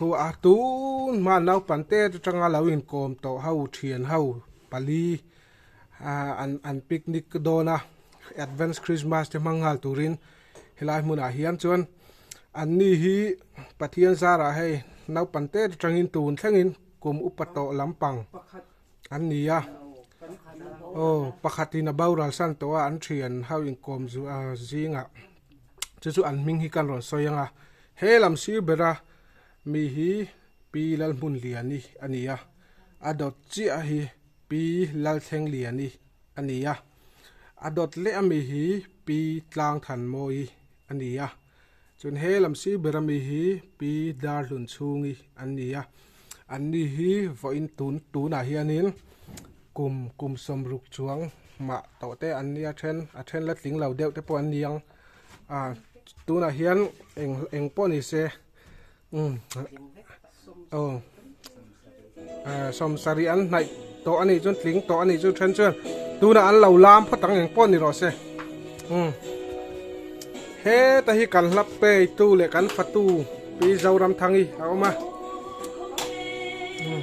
Khua a tun hman naupan te atanga lo inkawm tawh ho thian ho pali an an picnic ka dawn a advance Christmas te hmang nghal turin helai hmunah hian chuan an ni hi Pathian zarah hei naupan te atangin tun thlengin kum upa tawh lampang an ni a aw pakhatin a boral san tawh a an thian ho inkawm zingah chu chu an hming hi ka rawn sawi anga. He lam sir bera mi hi Pi Lalhmun Liani a ni a, a dawt chiah hi Pi Lalthleng Liani a ni a, a dawt leh a mi hi Pi Tlangthan Mawi a ni a, chuan he lam sir bera mi hi Pi Darhlun Chungi an ni a, an ni hi vawiin tun tunah hianin kum kum sawm ruk chuang mah tawhte an ni a, a then a then la tling lo deuhte pawh an ni ang. Ah tunah hian eng eng pawh ni se umm aw ah sawmsari an hnaih tawh a nih chuan tling tawh a nih chu then chuan tunah an lo lam phawt ang eng pawh ni rawh se umm heta hi kan hla peitu leh kan fatu pi Zoramthangi a awm a umm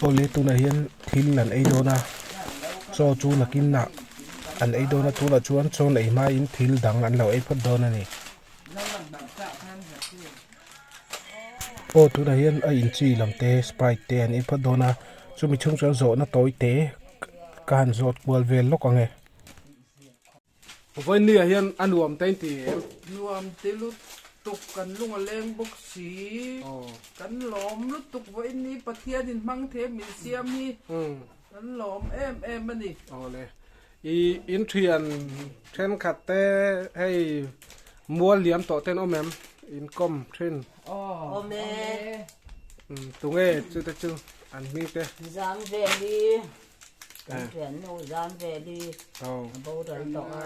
Pawle tunah hian thil an ei dawn a, Chaw chu nakinah an ei dawn a, tunah chuan Chaw neih hmain thil dang an lo ei phawt dawn a ni. Chaw tunah hian a inchi lam te, Sprite te an ei phawt dawn a, chumi chung chuan zawhna tawi te ka han zawt kual vel lawk ang e. Vawiin nuiah hian a nuam ta inti em? Nuam ti lutuk kan lung a leng bawk si. Kan lawm lutuk vawiin ni Pathianin hmang theih min siam hi kan lawm em em a ni. Awle. I inthian thenkhat te hei mual liam tawh ten awm em? Inkawm thin. Awm e. Tunge chute chu an hming te? Zam vel hi Kan pian nu zan vel hi a boral tawh a,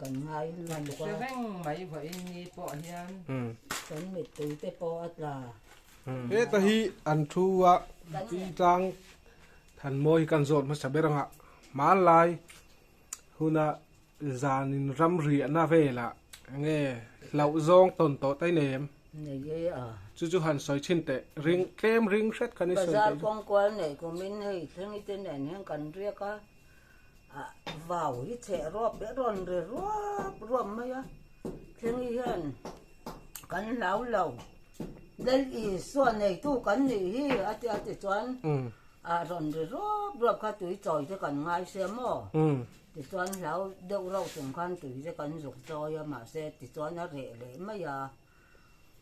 kan ngai lutuk a. Kan hre reng mai vawiin ni pawh hian kan mittui te pawh a tla. Heta hi an thu a Pi Tlang Thanmawi hi kan zawt hmasa ber ang a, hmanlai huna Zanin ram riahna velah nge hlauh zawng tawn tawh ta i nei em? Nei e a. Chu chu han sawi thin teh. Ring tlem ring hret kan i sawi teh hi. Bazar kawng kual neih kumin hei thleng te nen hian kan riak a, a vau hi chheh ruap leh rawn re ruap ruap mai a. Thleng i hian kan hlau lo, del i suah neitu kan nih hi a ti a ti chuan a rawn re ruap ruap kha tui chawi te kan ngai se maw? Tichuan hlau deuh rauh chung khan tuizia kan zuk chawi a, mahse tichuan a reh leh mai a,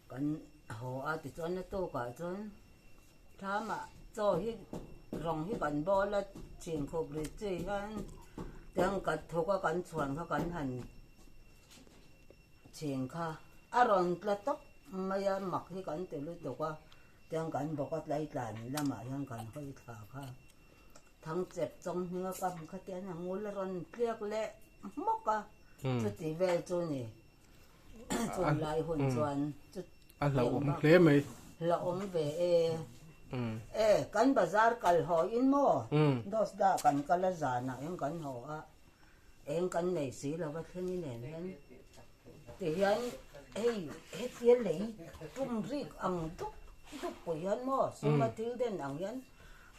kan haw a, tichuan a tukah chuan thlama chaw hi rawng hi kan bawl a, chhin khup rit chu i hian tiang ka thuk a, kan chhuan kha kan han chhin kha a rawn tla tawp mai a, mak hi kan ti lutuk a, tiang kan bawk a, tlai tlan lamah hian kan hawi thla kha Thangchep chawng hminga ka hmu kha tian a ngul a rawn tliak leh hmawk a, chuti vel chu ni. Chuan lai hun chuan chu a hlauhawm hle mai. Hlauhawm ve e. E, kan bazar kal haw in maw? Dose dah kan kal a zan ah hian kan haw a. Eng kan nei si lo va thleng i nen hian tihian hei hetia lei tum rik ang dup dup pawh hian maw suma thil den ang hian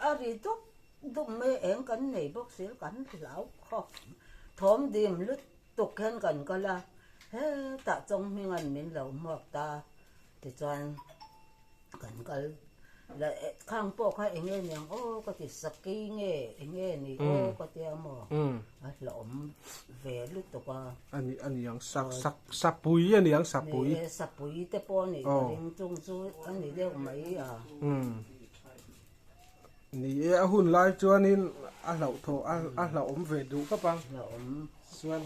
a ri dup dup mai a eng kan nei bawk si lo kan hlau khawp thawm dim lutuk hian kan kal a he tah chawng hming an min lo hmuak ta Tichuan kan kal la e, khang pawh kha eng nge niang aw ka ti, Saki nge eng nge ni aw ka ti a maw, a hlauhawm ve lutuk a. A ni, a ni ang, Sak, Sak, Sapui a ni ang, Sapui. Ni e, Sapui te pawh a nih, ka ring chung chu a ni deuh mai a. Ni e, a hun lai chuanin a hlauh thaw, a hlauhawm ve duh khawp a. Chuan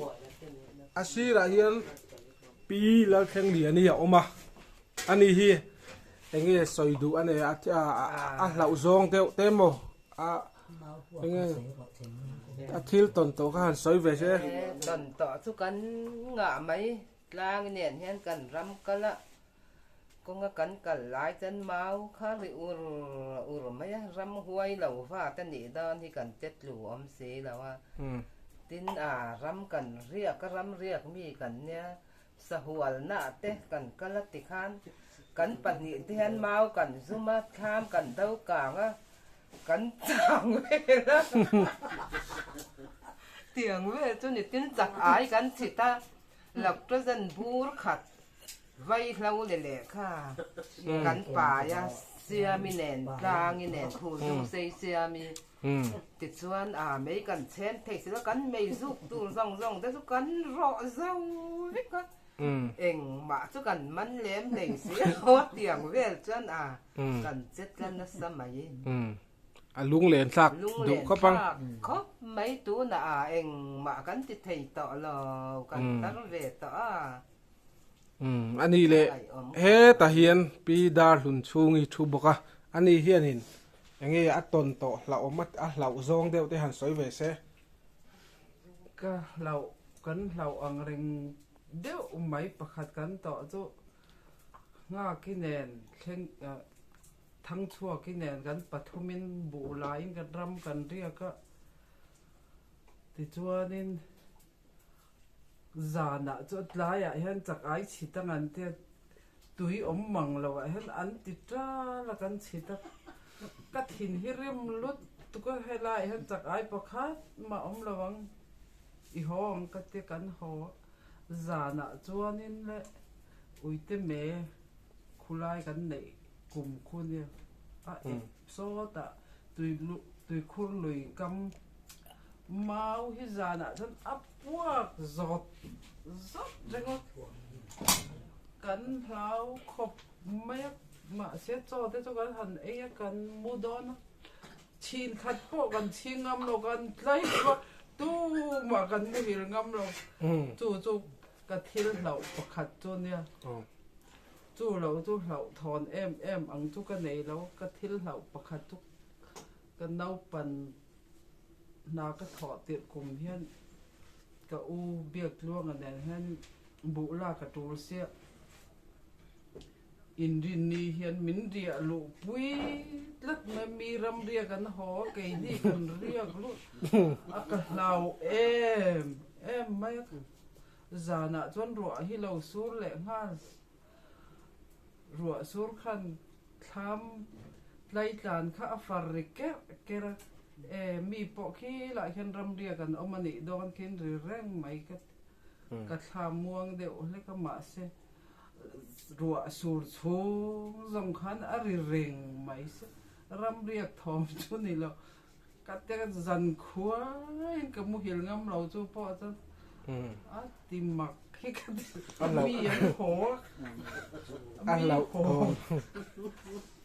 a sirah hian Pi Lalthleng lian hi a awm a, ani hi eng nge sawi duh a nei a, a hlauh zawng deuh te maw, a eng nge a thil tawn tawh kha han sawi ve se. Tawn tawh chu kan ngah mai. Tlang nen hian kan ram kal a, kawnga kan kal lai chuan mau kha ri ur ur mai a, ram huai lo vat a nih dan hi kan che tlu awm si lo a, tin a ram kan riak a, ram riak mi kan nia, sahualnah te kan kal a ti khan kan pahnih te hian mau kan zum a, thlam kan do kang a, Kan chang vel a tiang vel chu ni tin chak ai kan chhit a Lactogen bur khat vai hlo le leh kha kan pai a Siami nen tlangi nen phur dung sei Siami tichuan a mei kan chhem thei silo kan mei zuk tur zawng zawng te chu kan rawh zo vek a engmah chu kan man lem thei silo tiang vel chuan a. Kan che tla nasa mai. A lung len thlak duh khawp ang. A lung len thlak khawp mai tunah a engmah kan ti thei tawh lo, kan tar ve tawh a. A nih leh hetah hian Pi Darhlun chhung i thu bawk a, a ni hian in eng nge a tawn tawh hlauhawm a hlauh zawng deuh te han sawi ve se. Ka hlauh, kan hlauh ang reng deuh mai pakhat kan tawh chu. Nghaki nen thleng ah Thangchhuaki nen kan pathum in buh la in kan ram kan riak a. Tichuan in zan ah chuan tlai ah hian chak ai chhit a ngan tia tui awm mang lo ah hian an ti tal a kan chhit a. Ka thin hi rim lut tuk a helai ah hian chak ai pakhat mah awm lo ang i haw ang ka ti kan haw. Zanah chuanin le Uiteme khulai kan neih kum khuni a ep sawtah Tuikhur lui kam mau hi zanah chuan a puak zawt zawt reng a, kan hlau khawp mai a, mahse chaw te chu kan han ei a kan mu dawn a, Chhin khat pawh kan chhing ngam lo, kan tlai lo, tumah kan muhil ngam lo. Chu chu ka thil hlauh pakhat chu nia, chu lo chu hlauh thawn em em ang chu ka nei lo. Ka thil hlauh pakhat chu ka naupan hna ka thawh tirh kum hian ka u Biaktluanga nen hian buh la ka tul siah. Inrin ni hian min riah luh pui tlat mai mi ram riak an haw a kei hi kan riak luh a ka hlau em em mai a zan ah chuan ruah hi lo sur leh nghal ruah sur khan thlam tlai tlan kha a far ri ker ker a e mi pawh khi lah hian ram riak an awm a nih dawn thin ri reng mai ka ti. Ka thla muang deuh hlek a mahse ruah sur chhung zawng khan a ri reng mai se. Ram riak thawm chu ni lo, ka tel zan khuain ka muhil ngam lo chu pawh chuan a ti mak hi ka ti. Mi an haw a, mi haw.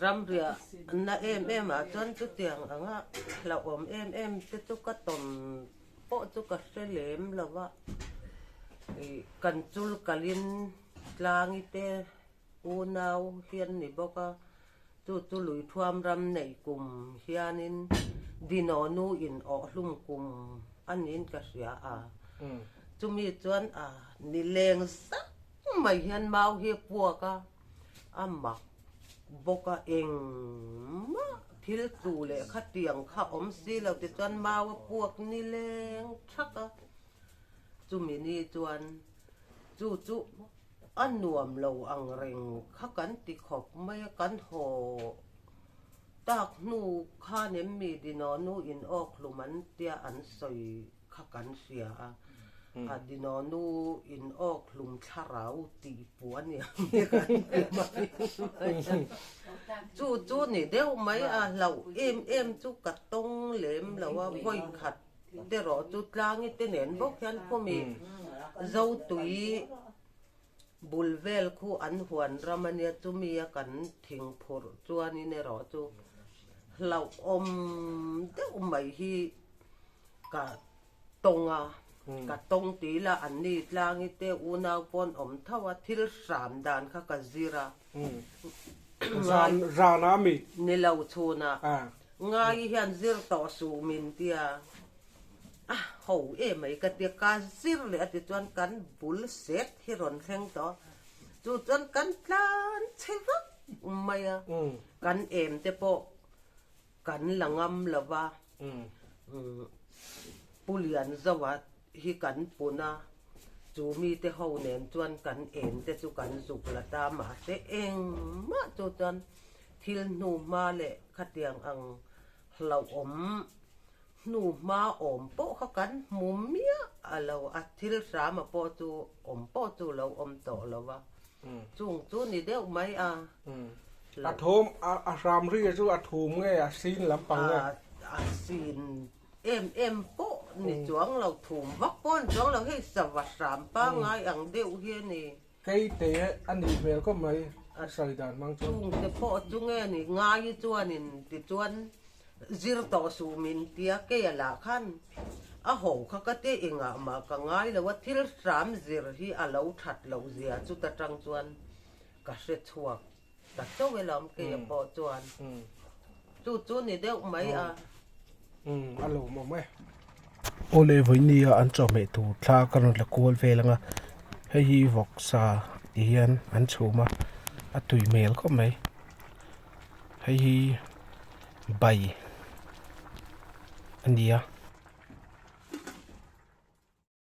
Ram riah na em em ah chuan chutiang anga hlauhawm em em te chu ka tawn pawh chu ka hre lem lo a, kan chul kal in tlangi te pu nau hian ni bawk a, chu chu lui thuam ram neih kum hian in Dino nu in awh hlum kum a niin ka hria a, chumi chuan a ni leng zau mai hian mau hi a puak a, a mak bawk a engmah thil tlu leh khatiang kha awm si lo tichuan mau a puak ni leng thak a chumi ni chuan chu chu a nuam lo ang reng kha kan ti khawp mai a kan haw tak hnu khan em mi dinawnu inawk hlum an tia an sawi kha kan hria a, a Dinonu in awk hlum thlarau ti pu a ni ang nge kan ti mai. Chu chu ni deuh mai a, hlauh em em chu ka tawng lem lo a, vawikhat terawh chu tlangi te nen bawk hian khawmi zotui bul vel khu an huan ram a nia, chumi a kan thing phurh chuan in erawh chu hlauh awm deuh mai hi, Ka tawng a, ka tawng ti ila an ni tlang i te unau pawn awm tho a, thil hram dan kha ka zir a. Zan zan a mi. Ni lo chhun a, ngai hian zir tawh suh min ti a, a ho e mai ka ti a, ka zir leh a ti chuan kan bul set hi rawn thleng tawh a, chu chuan kan tlan chhe vak mai a, kan em te pawh Kan la ngam lo va, Pu Lian Zoa hi kan pun a, chu mite ho nen chuan kan en te chu kan zuk la ta, mahse engmah chu chuan thil hnu hma leh khatiang ang hlauhawm Hnu hma awm pawh kha kan hmu miah a lo a, thil hrama pawh chu awm pawh chu lo awm tawh lo va, chung chu ni deuh mai a lo. A thawm a hram ria chu a thum nge a sin lampang nge? A sin em em pawh ni chuang lo, thum vak pawh a ni chuang lo, hei sava hram pangai ang deuh hian i. Kei te a nih hmel khawp mai a hrai dan hmang chuan. Chung te pawh chu nge ni ngai chuanin tichuan zir tawh suh min tia kei a lah khan a ho kha ka ti engah mah ka ngai lo a thil hram zir hi a lo that loh zia chuta tang chuan ka hre chhuak. Tla chauh ila awm keiah pawh chuan chu chu ni deuh mai a. A lawm awm e. Aw le Vawihnia an chawhmeh tur thla ka rawn la kual vel anga hei hi vawk sa i hian an chhum a, a tui hmel khawp mai. Hei hi bai a nia.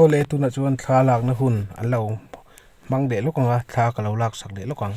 Aw le tunah chuan thla lakna hun an lo hmang leh lawk ang a, thla ka lo laksak leh lawk ang.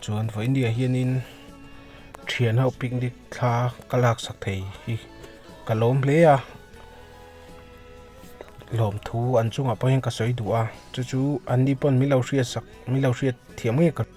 chuan vawin India hianin thian ho picnic thla ka laksak thei hi ka lawm hle a lawmthu an chungah pawhin ka sawi duh a chu chu an ni pawn min lo hriatsak min lo hriat thiam ngei ka hrih.